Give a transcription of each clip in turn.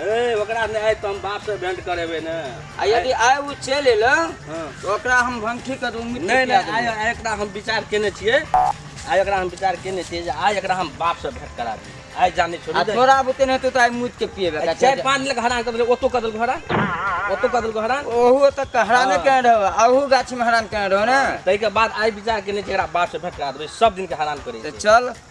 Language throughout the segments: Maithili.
ए ओकरा ने आइ तुम बाप से भेंट करेबे ने आ यदि आय ओ चलि एलौ हाँ। तऽ ओकरा हम भंठी के दू मिट्टी नहीं पिया नहीं आइ देबौ। आइ एकरा हम विचार केने छियै आइ एकरा हम विचार केने छियै जे आइ एकरा हम बाप से भेंट करा दी आइ जाने आ छोड़ी दे। तोरा बुते नहि हेतौ तऽ आइ मुइत के पिएबे आइ चारि पाँच लग हरान कर देलक ओतो कर देलक हरान ओतो कर देलक हरान ओहू तक हराने हाँ। कहे रहो अहू गाछी में हरान कहे रहो ने ताहिके बाद आइ विचार केने छियै एकरा बाप से भेंट करा देबै सब दिन के हरान करै तऽ छै चल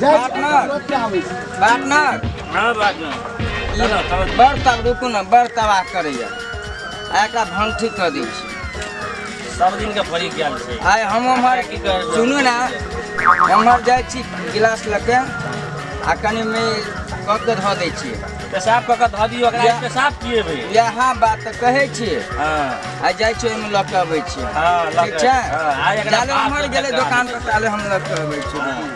जाइ छी पार्टनर। रोज के आबै छी पार्टनर हँ बात ना ई बड़ तब रुकू ने बड़ तबाह करैया आ एकरा भंठी कऽ दै छी सब दिन के फरी गेल छै आइ हम हमर की करबै? सुनू ने हमर जाइ छी गिलास लऽ के आ कनि मे कऽ के धऽ दै छी पेशाब कऽ के धऽ दियौ ओकरा या- पेशाब पिएबै इएह बात तऽ कहै छी हँ आ जाइ छी ओहिमे लऽ के अबै छी हँ लऽ ठीक के- छै हँ, आ एकरा जाले बाप हमर के गेलै टका दोकान पर ताले हम लऽ के अबै छी हँ।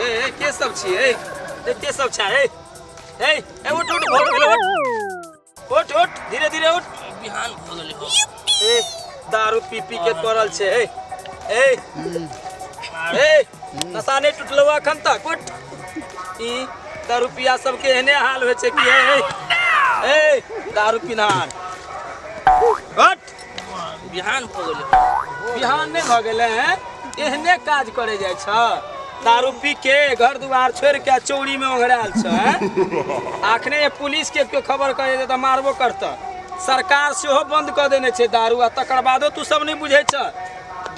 ए ए के सब छी ए ए के सब छै ए ए ए उठ उठ भोर भेल उठ उठ उठ धीरे धीरे उठ बिहान भ गेलै हो ए दारू पी पी के पड़ल छै ए ए ए नशा नहि टूटलौ अखन तक उठ ई दारू पिया सबके एहने हाल होइ छै कि ए ए दारू पिनहार उठ बिहान भऽ गेलै बिहान नहि भऽ गेलै हैं एहने काज करे जाइ छ दारू पी के घर दुआर छोड़ के चौरी में ओघराल छ हैं? आखने ये पुलिस के केओ खबर करे दे तऽ मारबो करत सरकार सेहो बंद कऽ देने छै दारू आ तकर बादो तू सब नहि बुझै छ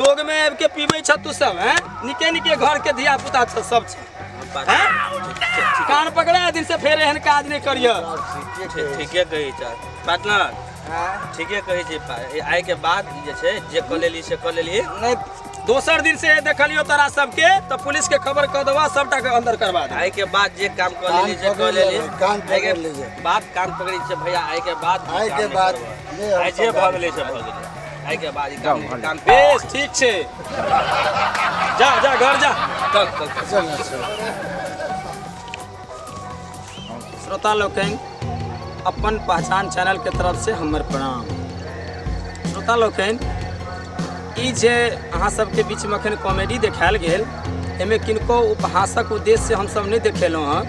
दोग में आबि के पीबै छ तू सब हैं निके निके घर के धिया पुता छ सब छ हैं? कान पकड़ा दिन से फेर एहन काज नहि करियह ठीके कही छ पार्टनर ठीके कहै छै पा आइ के बाद जे छै जे कऽ लेली से कऽ लेली नहि दोसर दिन से देखलियो तोरा सबके तऽ पुलिस के खबर कऽ देबा सबटा के अंदर करबा दे आइ के बाद जे काम कऽ कान लेली से कऽ पकड़ लेली लेबै, कान आइ के पकड़ लेबै। बाद कान पकड़ी छै भैया आइ के बाद ई आइ काम के नहि बाद करबै। नहि हम आइ जे सब भऽ गेलै से भऽ गेलै आइ के बाद ई काम नहि- काम बेस ठीक छै जा जा घर जा चल चल चल चल ना, चल। श्रोता लोकनि अपन पहचान चैनल के तरफ से हमर प्रणाम श्रोता लोकनि ई जे अहाँ सबके बीच में अखन कॉमेडी देखायल गेल एहिमे किनको उपहासक उद्देश्य से हमसब नहि देखेलहुँ हँ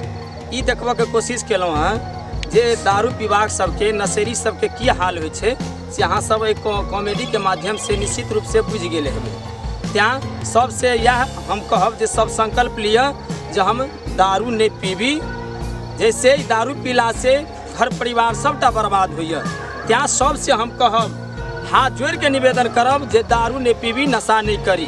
ई देखबऽ के कोशिश केलहुँ हँ जे दारू पीबाक सबके नशेरी सबके की हाल होइ छै से अहाँ सब एहि कॉ- कॉमेडी के माध्यम से निश्चित रूप से बुझि गेल हेबै तैँ सबसे इएह हम कहब जे सब संकल्प लिअ जे हम दारू नहि पीबी जैसे दारू पीला से घर परिवार सबटा बर्बाद होइए तैं सबसे हम कहब हाथ जोड़ के निवेदन करब जे दारू नहि पीबी नशा नहि करी